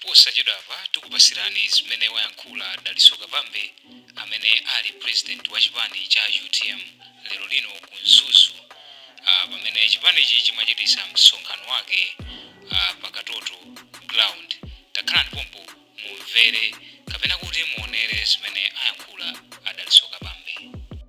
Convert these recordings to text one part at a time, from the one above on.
Posachedwapa tikupasirani zimene wayankhula Dalitso Kabambe amene ali president wa chipani cha utm lero lino ku Mzuzu pamene chipanichi chimachitisa msonkhano wake pa Katoto ground. Takhalani pompo mumvere kapena kuti muonere zimene ayankhula a Dalitso Kabambe.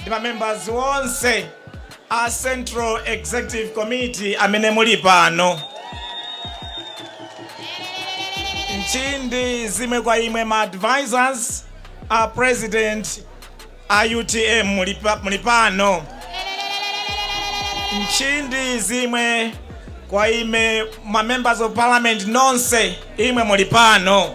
ndi ma members onse a Central Executive Committee amene muli pano. Nchindi zize kwa imwe ma advisors a president a UTM muli pa- muli pano. Nchindi zize kwa imwe ma members of parliament nonse imwe muli pano.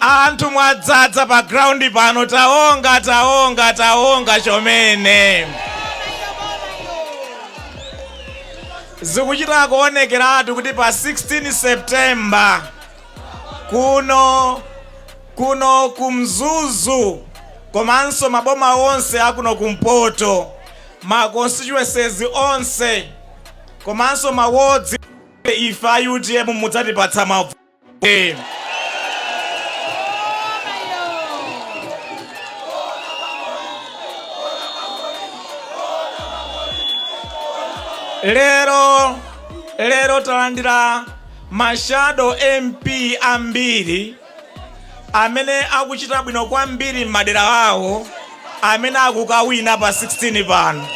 Anthu mwadzadza pa ground pano taonga taonga taonga chomene zikuchita kuonekeratu kuti pa 16 September kuno kuno ku Mzuzu komanso maboma onse akuno kumpoto ma constituencies onse komanso ma wards ife a utm mudzatipatsa mavoti Amen. lero lero talandira ma shadow MP ambiri amene akuchita bwino kwambiri m'madera awo amene akukawina pa 16 pano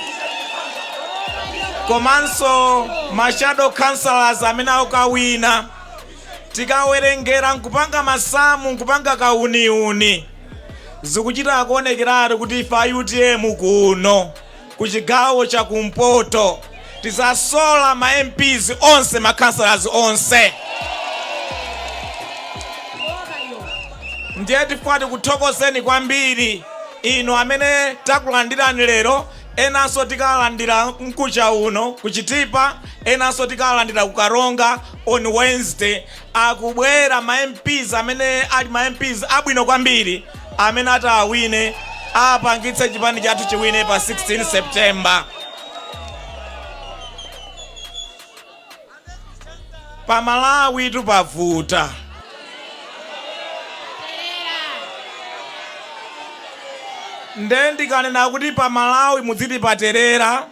komanso ma shadow councillors amene akukawina Tikawerengera nkupanga masamu nkupanga kauniuni zikuchita kuonekeratu kuti ife a utm kuno ku chigawo cha kumpoto tizasola ma MPs onse ma councillors onse. Ndiye tifuna tikuthokozeni kwambiri inu amene takulandirani lero Enanso tikalandira mkucha uno ku Chitipa, enanso tikalandira ku Karonga on Wednesday. Akubwera ma MPs amene ali ma MPs abwino kwambiri amene ataawine apangitse chipani chathu chiwine pa 16 September. pa malawitu pavuta nde ndikanena kuti pa malawi mudziti paterera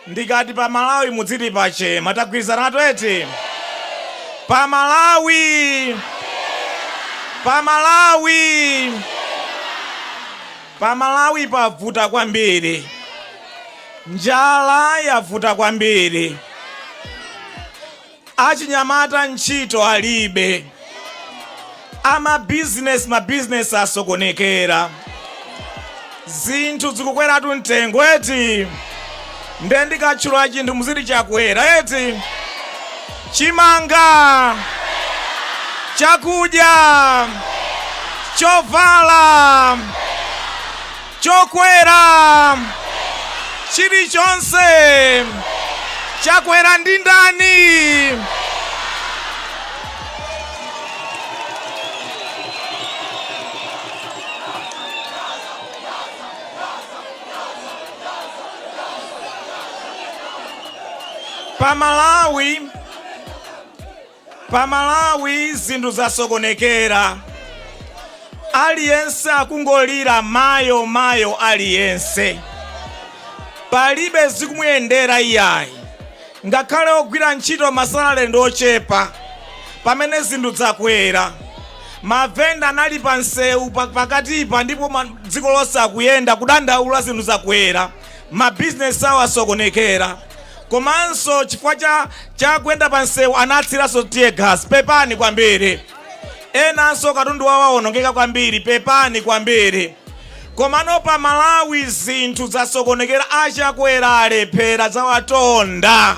ndikati pa malawi mudziti pachema tagwirizana twete pa malawi pa malawi pa malawi pavuta kwambiri Njala yavuta kwambiri. Achinyamata ntchito alibe. Amabizinesi mabizinesi asokonekera. Zinthu zikukweratu mtengo eti. Nde ndikatchula chinthu muziti chakwera eti. Chimanga, chakudya, chovala. chokwera chilichonse chakwera ndi ndani pa Malawi Pa Malawi zinthu zasokonekera aliyense akungolira mayo mayo aliyense palibe zikumuyendera iyayi ngakhale ogwira ntchito masalale ndi ochepa pamene zinthu zakwera mavenda anali pa msewu pa- pakatipa ndipo ma- dziko lonse akuyenda kudandaula zinthu zakwera mabizinesi awo asokonekera komanso chifukwa cha kuyenda pa msewu anatsiranso tear gas pepani kwambiri enanso katundu wawo awonongeka kwambiri pepani kwambiri komano pa malawi zinthu zasokonekera a Chakwera alephera zawatonda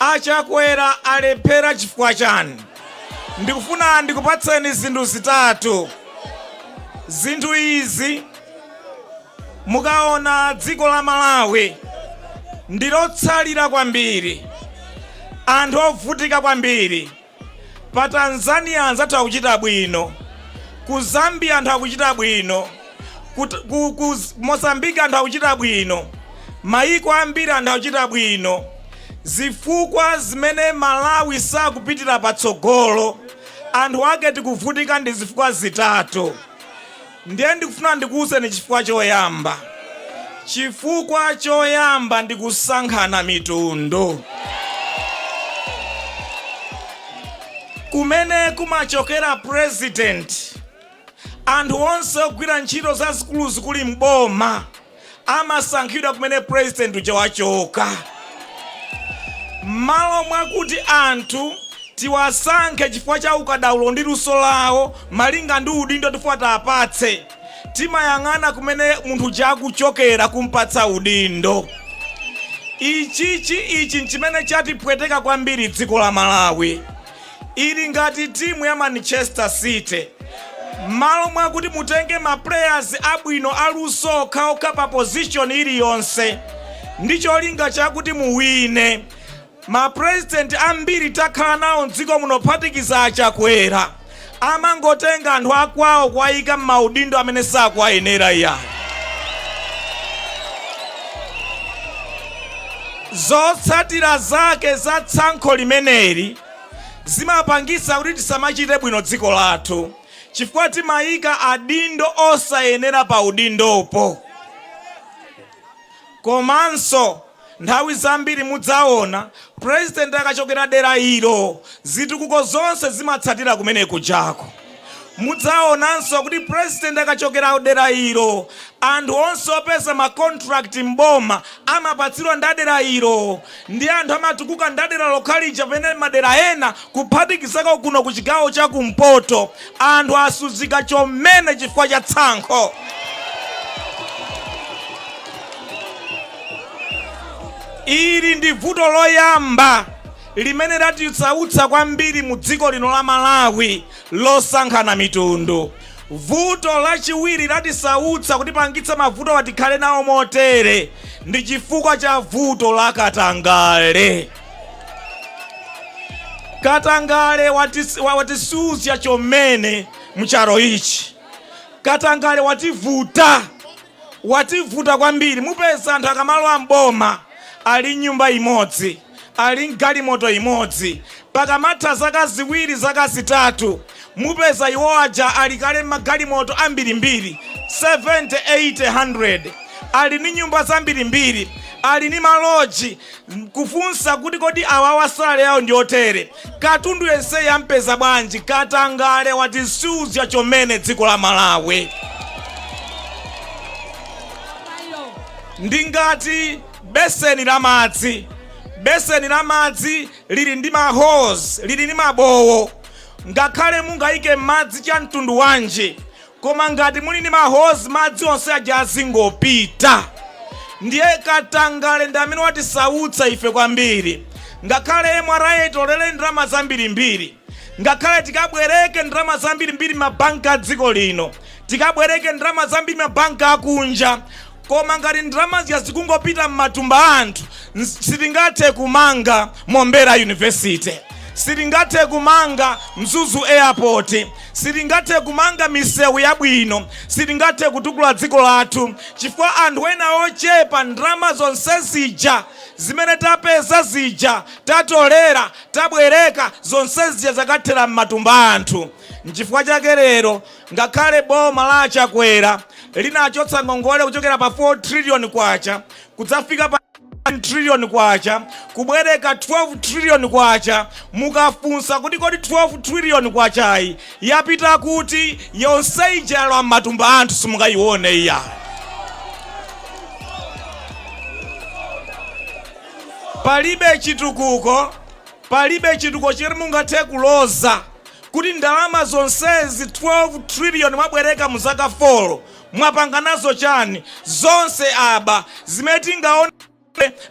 A Chakwera alephera chifukwa chani? Ndikufuna ndikupatseni zinthu zitatu. Zinthu izi mukaona dziko la Malawi ndilotsalira kwambiri, anthu ovutika kwambiri. Pa Tanzania anzathu akuchita bwino, ku Zambia anthu akuchita bwino, ku, ku, ku Mozambique anthu akuchita bwino, mayiko ambiri anthu akuchita bwino. Zifukwa zimene Malawi sakupitira patsogolo, anthu ake tikuvutika ndi zifukwa zitatu. Ndiye ndikufuna ndikuuzeni chifukwa choyamba. Chifukwa choyamba ndi kusankhana mitundu, kumene kumachokera purezidenti, anthu onse ogwira ntchito zazikuluzikulu m'boma, amasankhidwa kumene president uja wachoka. Mmalo mwakuti anthu tiwasankhe chifukwa cha ukadaulo ndi luso lawo malinga ndi udindo tifuna tiapatse, timayang'ana kumene munthu uja akuchokera kumpatsa udindo. Ichichi ichi nchimene chatipweteka kwambiri dziko la Malawi. Ili ngati timu ya Manchester City. Mmalo mwakuti mutenge ma players abwino aluso okhaokha pa position iliyonse ndi cholinga chakuti muwine. Ma president ambiri takhala nawo mdziko muno kuphatikiza a Chakwera amangotenga anthu akwawo kuwayika mmaudindo amene sakuwayenera iyayi. Zotsatira zake za tsankho limeneli zimapangitsa kuti tisamachite bwino dziko lathu chifukwa timayika adindo osayenera pa udindopo. Komanso nthawi zambiri mudzaona president akachokera dera ilo zitukuko zonse zimatsatira kumene kujako. Mudzaonanso kuti president akachokera dera ilo, anthu onse opeza ma contract m'boma amapatsidwa ndi a dera ilo. Ndiye anthu amatukuka ndi a dera lokhalija pamene madera ena kuphatikizako kuno ku chigawo cha kumpoto anthu asuzika chomene chifukwa cha tsankho. Ili ndi vuto loyamba. limene latisautsa kwambiri mu dziko lino la Malawi losankhana mitundu. Vuto lachiwiri latisautsa kutipangitsa mavutowa tikhale nawo motere ndi chifukwa cha vuto la katangale. Katangale watisuzya chomene mcharo ichi. Katangale wativuta. wativuta kwambiri mupeza anthu akamalowa m'boma ali ni nyumba imodzi ali ni galimoto imodzi pakamatha zaka ziwiri zaka zitatu mupeza iwo aja ali kale magalimoto ambirimbiri 70 80 100 ali ni nyumba zambirimbiri ali ni maloji kufunsa kuti kodi awawa salary yawo ndi otere Katundu yenseyi ampeza bwanji? Katangale watisuzya chomene dziko la Malawi. Ndi ngati beseni la madzi. Beseni la madzi lili ndi ma holes, lili ndi mabowo. Ngakhale mungayike madzi cha mtundu wanji, Koma ngati muli ndi ma holes madzi onse aja azingopita. Ndiye katangale ndi amene watisautsa ife kwambiri. Ngakhale MRA itolere ndalama zambirimbiri, ngakhale tikabwereke ndalama zambirimbiri m'mabanki a dziko lino, tikabwereke ndalama zambiri m'mabanki akunja, Koma ngati ndalama zija zikungopita mmatumba a anthu, sitingathe kumanga Mombera University, sitingathe kumanga Mzuzu Airport, sitingathe kumanga misewu yabwino, sitingathe kutukula dziko lathu chifukwa anthu ena ochepa ndalama zonse zija zimene tapeza zija, tatolera, tabwereka, zonse zija zakathera mmatumba a anthu. Nchifukwa chake lero Ngakhale boma la a Chakwera linachotsa ngongole kuchokera pa 4 trillion kwacha kudzafika pa 1 trillion kwacha kubwereka 12 trillion kwacha, mukafunsa kuti kodi 12 trillion kwachayi yapita kuti, yonse ija yalowa m'matumba a anthu simungayione iyayi. Palibe chitukuko. Palibe chitukuko chili mungathe kuloza kuti ndalama zonsezi 12 trillion mwabwereka mu zaka 4 mwapanga nazo chani? Zonse aba. Zimene tingaone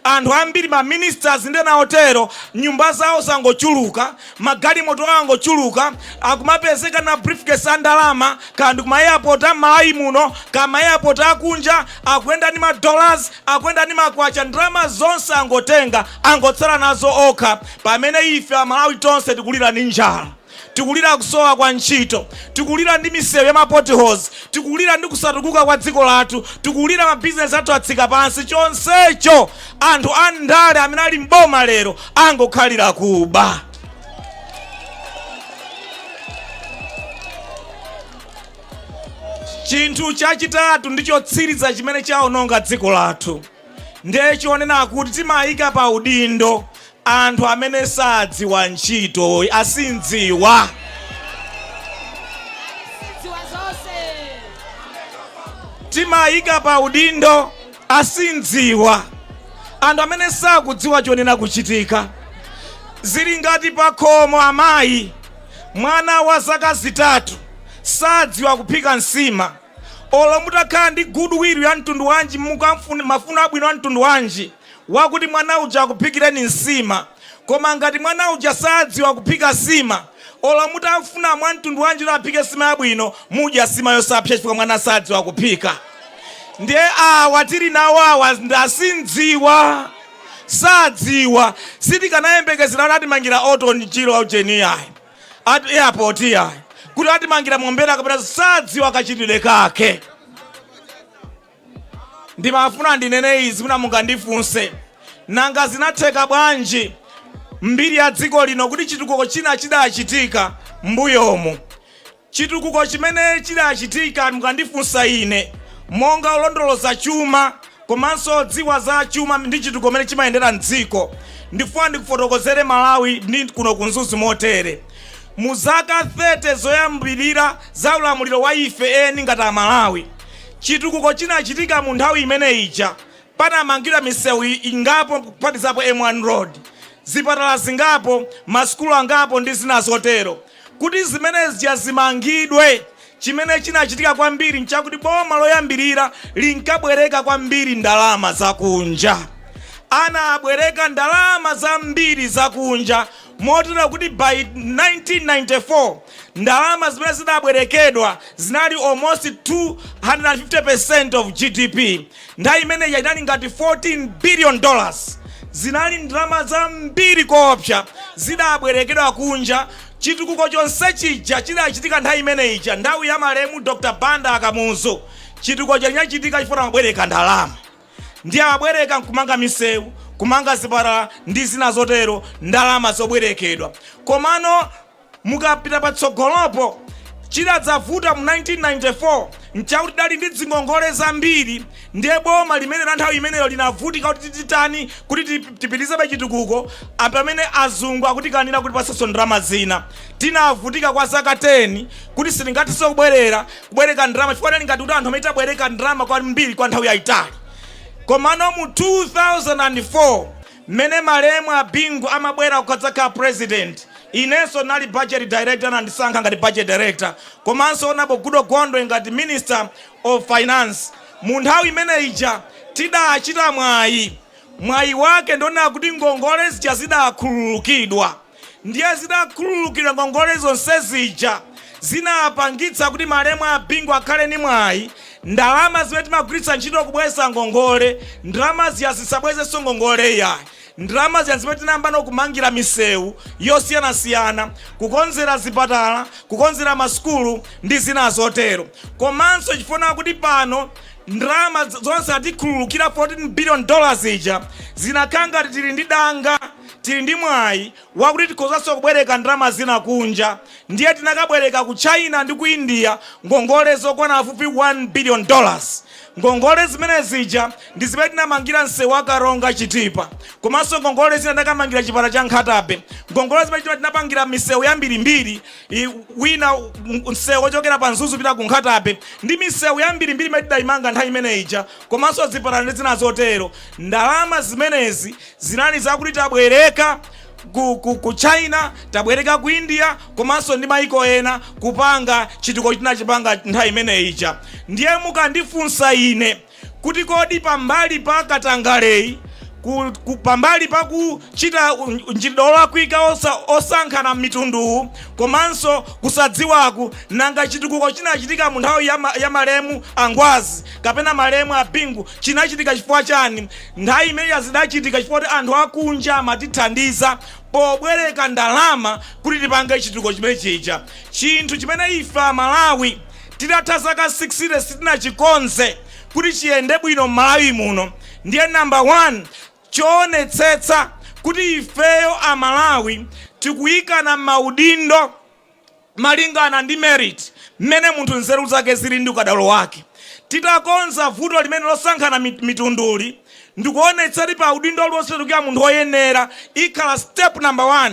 anthu ambiri ma ministers ndi ena otero nyumba zawo zangochuluka, magalimoto awo angochuluka, akumapezeka na briefcase a ndalama kaya ndi ku ma airport a m'Malawi muno kaya ma airport a kunja, akuyenda ndi ma dollars, Akuyenda ndi makwacha ndalama zonse angotenga angotsala nazo okha pamene ife amalawi tonse tikulira ndi njala, tikulira kusowa kwa ntchito, tikulira ndi misewu ya ma potholes, tikulira ndi kusatukuka kwa dziko lathu, tikulira mabizinesi athu atsika pansi chonsecho anthu a ndale amene ali m'boma lero angokhalira kuba. Chinthu chachitatu ndi chotsiriza chimene chawononga dziko lathu ndiye chonena kuti timayika pa udindo anthu amene sadziwa ntchito, asindziwa. Timayika pa udindo asindziwa, anthu amene sakudziwa chonena kuchitika. Zili ngati pakhomo amayi Mwana wa zaka zitatu sadziwa kuphika nsima. Olo mutakhala ndi good will ya mtundu wanji, mafuno abwino a mtundu wanji, wakuti mwana uja akuphikireni nsima, koma ngati mwana uja sadziwa kuphika sima, olo mutafuna mwa mtundu wanji kuti aphike sima yabwino, mudya sima yosapsa chifukwa mwana sadziwa kuphika. Ndiye awa tili nawo awa ndi asindziwa. sadziwa sitikanayembekezera kuti atimangira Orton Chirwa ujeni iyayi at airport iyayi kuti atimangira Mombera kapena sadziwa kachitidwe kake ndimafuna ndinene izi mwina mungandifunse nanga zinatheka bwanji mbiri ya dziko lino kuti chitukuko china chidachitika mbuyomu Chitukuko chimene chidachitika mukandifunsa ine monga olondoloza chuma komanso odziwa za chuma ndi chitukuko mmene chimayendera m'dziko, ndifuna ndikufotokozere Malawi ndi kuno ku Mzuzu motere. Mu zaka 30 zoyambirira za ulamuliro wa ife eni ngati Amalawi, chitukuko chinachitika mu nthawi imene ija. Panamangidwa misewu ingapo kuphatikizapo M1 Road, zipatala zingapo, masukulu angapo ndi zina zotero. Kuti zimene zija zimangidwe, chimene chinachitika kwambiri nchakuti boma loyambirira linkabwereka kwambiri ndalama zakunja. Anabwereka ndalama zambiri zakunja motero kuti by 1994 ndalama zimene zinabwerekedwa zinali almost 250% of GDP. Nthawi imene ija inali ngati 14 billion dollars. Zinali ndalama zambiri koopsa zidabwerekedwa kunja. Chitukuko chonse chija chidachitika nthawi imene ija, nthawi ya malemu Dr. Banda a Kamuzu. Chitukuko chija chinachitika chifukwa amabwereka ndalama. Ndiye amabwereka nkumanga misewu, kumanga zipatala ndi zina zotero, ndalama zobwerekedwa. Komano Mukapita patsogolopo, chidadzavuta mu 1994 n'chakuti tidali ndi dzingongole zambiri ndiye boma limene la nthawi imeneyo linavutika kuti titani kuti tipitirizebe chitukuko pamene azungu akutikanira kutipatsanso ndalama zina. Tinavutika kwa zaka 10 kuti sitingathenso kubwerera kubwereka ndalama chifukwa tidali ngati kuti anthu amene tabwereka ndalama kwambiri kwa nthawi yaitali. Komano mu 2004. Mmene malemu a Bingu amabwera kudzakhala president inenso ndinali budget director anandisankha ngati budget director komanso honourable Goodall Gondwe ngati minister of finance munthawi imene ija tidachita mwayi mwayi wake ndi onena kuti ngongole zija zidakhululukidwa. Ndiye zitakhululukidwa ngongole zonse zija zinapangitsa kuti malemu a Bingu akhale ndi mwayi ndalama zimene timagwiritsa ntchito kubweza ngongole, ndalama zija zisabwezenso ngongole iyayi. Ndalama zija n'zimene tinayambano kumangira misewu yosiyanasiyana, kukonzera zipatala, kukonzera masukulu ndi zina zotero. Komanso chifukwa chonena kuti pano ndalama zonse atikhululukira, 14 biliyoni dola zija, zinakhala ngati tili ndi danga. tili ndi mwayi wakuti tikhozanso kubwereka ndalama zina kunja ndiye tinakabwereka ku China ndi ku India ngongole zokwana pafupifupi 1 billion dollars. Ngongole zimene zija ndi zimene tinamangira msewu wa Karonga Chitipa komanso ngongole zina tinakamangira chipatala cha Nkhata Bay. Ngongole zimene zija tinapangira misewu yambirimbiri wina msewu wochokera pa Mzuzu kupita ku Nkhata Bay ndi misewu yambirimbiri imene tidaimanga nthawi imene ija komanso zipatala ndi zina zotero. Ndalama zimenezi Zinali zakuti tabwereka ku ku ku China, tabwereka ku India komanso ndi maiko ena kupanga chitukuko tinachipanga nthawi imene ija. Ndiye mukandifunsa ine kuti kodi pambali pa katangaleyi, ku ku pambali pa kuchita mchitidwe olakwika osankhana mitunduwu komanso kusadziwaku, nanga chitukuko chinachitika munthawi ya ma ya malemu a Ngwazi kapena malemu a Bingu chinachitika chifukwa chani? Nthawi imeneja zidachitika chifukwa kuti anthu akunja amatithandiza pobwereka ndalama kuti tipange chitukuko chimene chija, chinthu chimene ife Amalawi titatha zaka 60 sitinachikonze kuti chiyende bwino m'Malawi muno. Ndiye number one choonetsetsa kuti ifeyo Amalawi tikuikana m'maudindo. malingana ndi merit, mmene munthu nzeru zake zili ndi ukadaulo wake. Titakonza vuto limene losankhana mitunduli ndikuonetsa kuti pa udindo uliwonse tikuika munthu oyenera ikhala step number 1.